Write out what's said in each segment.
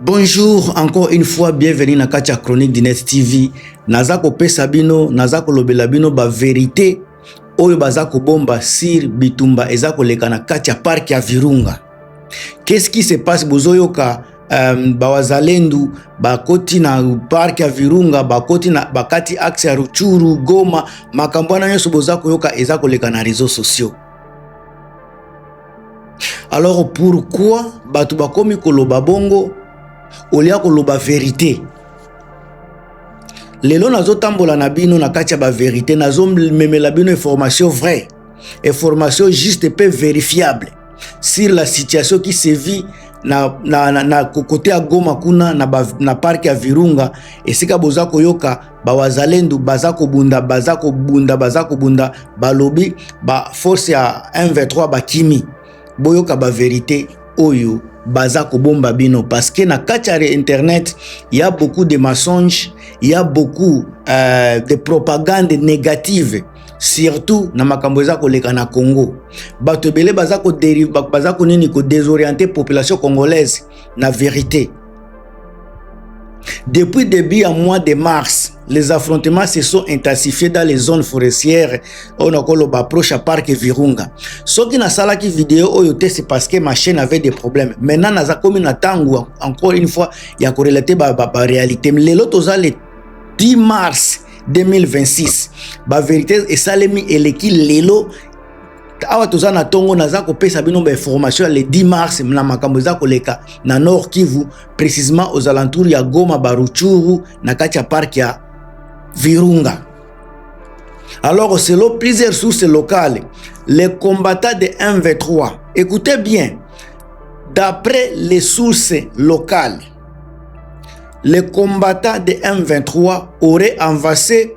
Bonjour encore une fois bienvenue na kati ya chronique du net TV naza kopesa bino naza kolobela bino ba verite oyo baza kobomba sur bitumba eza koleka na kati ya parc ya Virunga qu'est-ce qui se passe bozoyoka um, bawazalendu bakoti na park ya virunga bakoti na bakati axe ya ruchuru goma makambo wana nyonso boza koyoka eza koleka na réseau sociaux alors pourquoi bato bakomi koloba bongo olia koloba verite lelo nazotambola na bino na kati ya baverité nazomemela bino information vraie information juste mpe verifiable sur la situation qui se vit na, na, na, na kokote ya goma kuna na, ba, na parke ya virunga esika boza koyoka bawazalendu baza kobunda baza kobunda baza kobunda balobi baforce ya m23 bakimi boyoka baverité oyo baza kobomba bino parce que na kati ya internet ya beaucoup de mensonges ya beaucoup euh, de propagande négative surtout na makambo eza koleka na congo bato ebele baza konini kodesoriente population congolaise na verité Depuis début ya mois de mars, les affrontements se sont intensifiés dans les zones forestières oyo nakoloba approche ya parc Virunga. Soki nasalaki video oyo te c'est parce que ma chaîne avait des problèmes. Maintenant naza komi na tango encore une fois ya ko relater ba, ba, ba réalité. Lelo toza le 10 mars 2026. Ba vérité esalemi eleki lelo awa toza na tongo naza kopesa bino ba information ya le 10 mars na makambo eza koleka na nord kivu précisement aux alentours ya goma baruchuru na kati ya parc ya virunga alors selon plusieurs sources locales les combattants de mv3 écoutez bien d'après les sources locales les combattants de m23 auraient avancé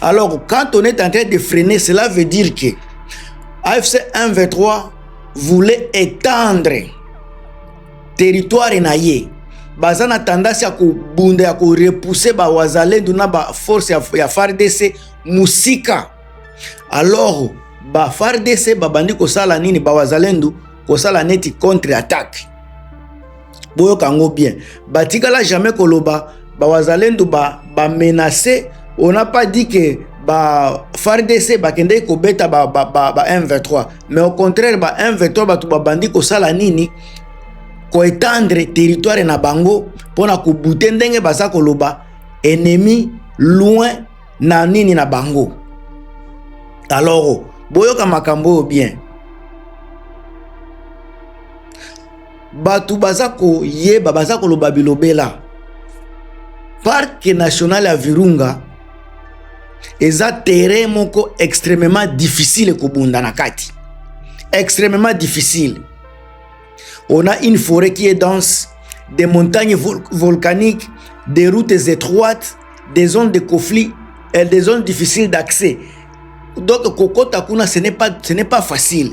Alors, quand on est en train de freiner, cela veut dire que AFC 123 voulait étendre territoire na ye baza na tendance ya kobunda ya korepouse bawazalendo na baforce ya, ya fardc mosika alors bafardc babandi kosala nini bawazalendo kosala neti contre attaque boyoka yango bien batikala jamais koloba bawazalendu ba, ba menace on n'a pas dit que ba fardc bakendeki kobeta ba, ba, ba, ba m23 mais au contraire ba m23 bato babandi kosala nini koetendre territoire na bango mpo na kobute ndenge baza koloba ennemi loin na nini na bango alors boyoka makambo oyo bien bato baza koyeba baza koloba bilobela parke national ya virunga eza terrain moko extrêmement difficile kobunda na kati extrêmement difficile on a une forêt qui est dense des montagnes vol volcaniques des routes étroites des zones de conflit et des zones difficiles d'accès donc kokota kuna ce n'est pas, ce n'est pas facile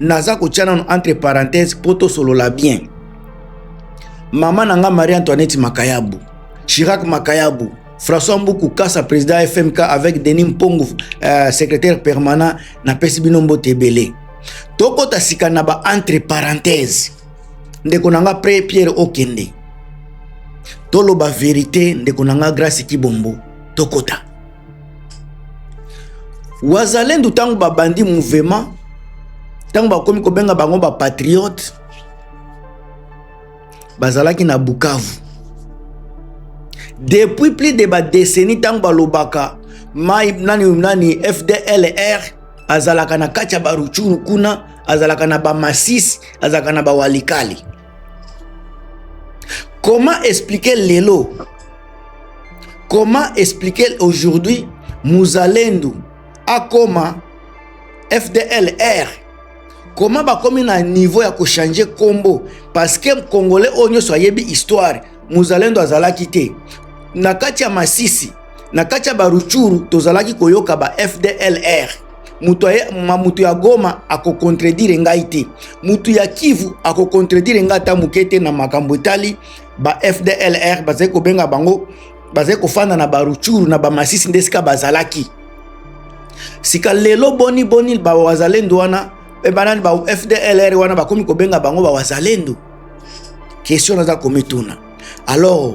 naza kotya nano entre parenthèse mpo tosolola bien mama na nga marie antoinette makayabu chirac makayabu françois mbuku kasa président ya fmk avec denis mpongu euh, secrétaire permanent napesi bino mbote ebele tokota sika na ba entre parenthèse ndeko na nga pre pierre okende toloba verité ndeko na nga grace kibombo tokota wazalendo ntango babandi mouvema ntango bakomi kobenga bango bapatriote bazalaki na bukavu depuis plus de badeseni ntango balobaka mai nani nani fdlr azalaka na kati ya baruchuru kuna azalaka na bamasisi azalaka na bawalikali Comment expliquer lelo Comment expliquer aujourd'hui Muzalendo akoma FDLR Comment bakomi na niveau ya kochange kombo parce que congolais oyo nyonso ayebi histoire Muzalendo azalaki te na kati ya Masisi na kati ya Baruchuru tozalaki koyoka ba FDLR moto ma moto ya goma akokontredire ngai te moto ya kivu akokontredire ngai ata moke te na makambo etali ba fdlr bazali kobenga bango bazali kofanda na baruchuru na bamasisi nde esika bazalaki sika lelo boni boni bawazalendo wana mpe banani ba fdlr wana bakomi kobenga bango bawazalendo question naza komituna alors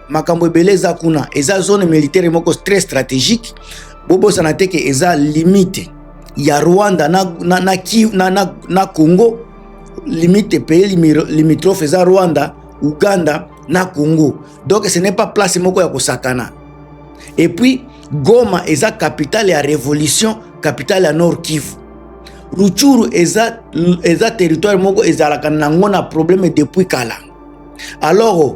makambo ebele eza kuna eza zone militaire moko très stratégique bobosana te ke eza limite ya rwanda na, na, na, na, na, na congo limite pays limitrophe eza rwanda uganda na congo donc ce n'est pas place moko ya kosakana et puis goma eza capitale ya révolution capitale ya nord kivu ruchuru eza, eza territoire moko ezalaka nango na problème depuis kala alors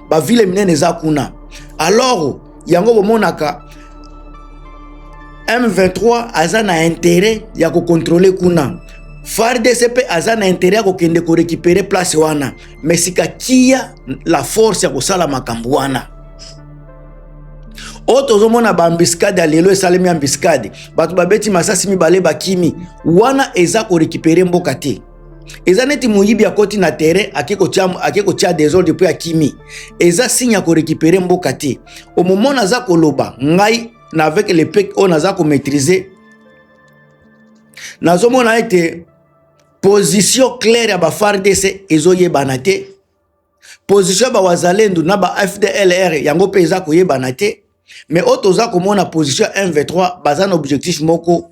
bavile minene eza kuna alors yango bomonaka m23 aza na interet ya kokontrole kuna fardc mpe aza na interet ya kokende korekipere place wana me sika kia la force ya kosala makambo wana oyo tozomona baambiskade ya lelo esalemi ambiskade bato babeti masasi mibale bakimi wana eza korekipere mboka te eza neti moyibi akoti na terrain ake kotya desordre mpe akimi eza signe ya korekipere mboka te omomo naza koloba ngai na avec le pek oyo naza komaîtrise nazomona ete position claire ya bafardc ezoyebana te position ya bawazalendu na ba fdlr yango mpe eza koyebana te mais oyo toza komona position ya mv3 baza na objectif moko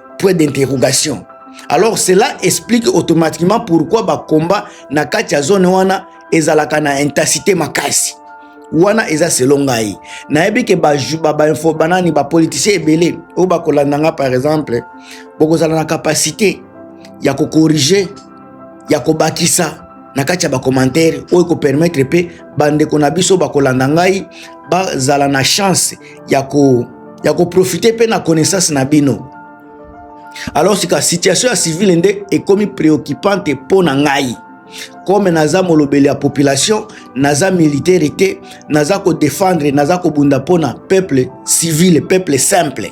point d'interrogation alors cela explique automatiquement pourquoi bakomba na kati ya zone wana ezalaka na intensité makasi wana eza selo ngai nayebi ke bainfo banani bapoliticien ebele oyo bakolanda nga par exemple bokozala na kapasité ya kokorige ya kobakisa na kati ya bakomantere oyo ekopermetre mpe bandeko na biso bakolanda ngai bazala na chance ya ko ya koprofite mpe na connaissance na bino alors sika situation ya civile nde ekomi préoccupante mpo na ngai kome naza molobeli ya population naza militaire te naza kodefendre naza kobunda mpo na peuple civile peuple simple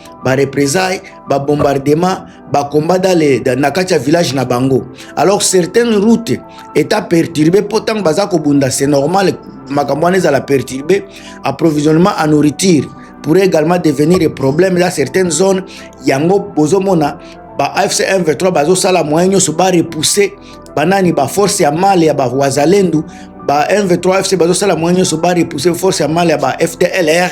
ba représailles ba bombardement ba combat dans les dans na kati ya village na bango alors certaines routes état perturbé mpo ntango baza kobunda c'est normal makambo wana ezala perturbé approvisionnement en nourriture pourrait également devenir un problème dans certaines zones yango bozomona ba afc 1 23 bazosala moyen nyonso ba repousser banani ba force ya male ya bawazalendu ba M23 FC bazosala mwa nyonso ba repousser force ya mali ya ba FDLR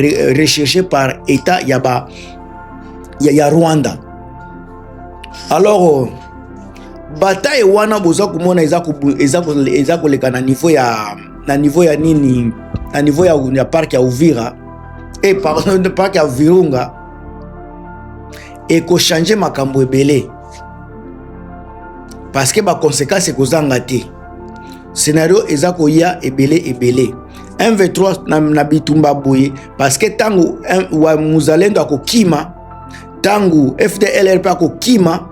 euh, recherche par état ya ba ya, ya rwanda alors euh, bataille wana boza komona eza koleka na niveau ya na niveau ya nini na niveau ya, ya parc ya uvira e eh, pardon parc ya virunga ekochange makambo ebele parce que baconséquence ekozanga te scenario eza koya ebele ebele mv3 na, na bitumba boye parce que ntango wa muzalendo akokima ntango fdlrp akokima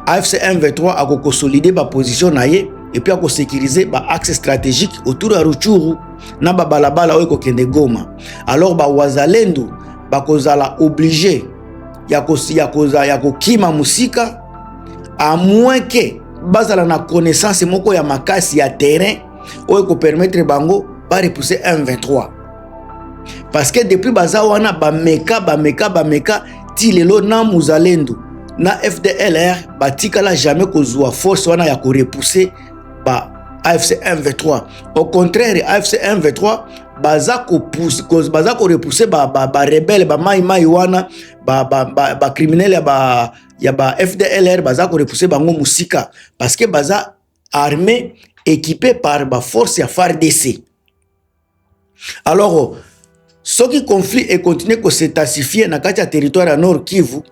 afc mv3 akokonsolide baposition na ye epuis akosekirize baaxe stratégique autour ya ruchuru na babalabala oyo ekokende goma alors bawazalendo bakozala oblige ya kokima mosika à moins que bazala na connaissance moko ya makasi ya terrain oyo ekopermettre bango barepousse m23 parce que depuis baza wana bameka bameka bameka ti lelo na muzalendo na fdlr batikala jamais kozwa force wana ya korepousse ba afc m23 au contraire afc m23 baza kopousse baza korepousse barebele ba, ba, ba bamaimai wana bacriminele ba, ba, ba ya ba ya ba fdlr baza korepuse bango mosika parce que baza armée équipée par ba force ya fardc alors soki conflit ekontinue kosetensifie na kati ya territoire ya nord kivu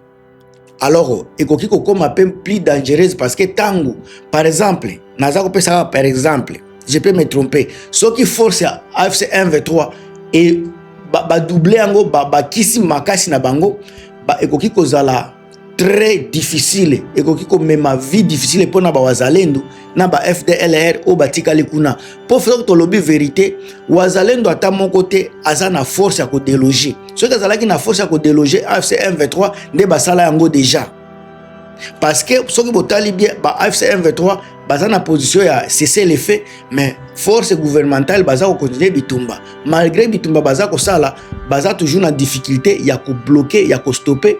alors ekoki kokoma mpe plus dangereuse parce que ntango par exemple naza kopesaka par exemple je peux me tromper soki force ya afc 1 v3 e badouble yango bakisi makasi na bango ekoki kozala très difficile ekoki komema vie difficile mpo na bawazalendo na ba fdlr oyo batikali kuna mpo soki tolobi verité wazalendo ata moko te aza na force ya kodeloge soki azalaki na force ya kodeloge afc m23 nde basala yango deja parce que soki botali bien ba AFC M23 baza na position ya cessez le feu mais force gouvernementale baza ko continuer bitumba malgré bitumba baza kosala baza toujours na difficulté ya ko bloquer ya ko stopper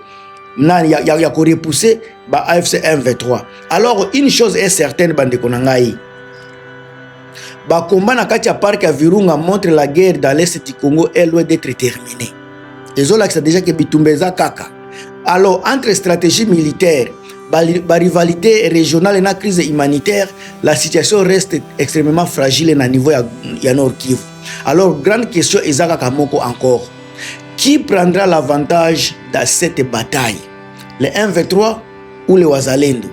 na ya, ya, ya ko repousser ba AFC M23 alors une chose est certaine bandeko na ngai Ba combat na kati ya parc ya Virunga montre la guerre dans l'est du Congo est loin d'être terminée. Ezolakisa déjà que bitumba eza kaka. Alors entre stratégie militaire ba rivalité régionale na crise humanitaire, la situation reste extrêmement fragile na niveau ya, ya Nord Kivu. Alors grande question eza kaka moko encore. Qui prendra l'avantage dans cette bataille? Les 1v3 ou les Wazalendo?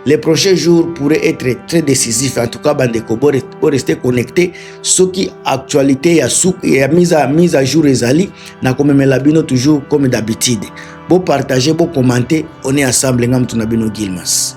les prochains jours pourraient être très décisifs en tout cas bandeko bo rester connecté soki actualité ya suk ya mise à mise à jour ezali na komemela bino toujours comme d'habitude bo partager bo commenter on est ensemble nga mutu na bino Gilmas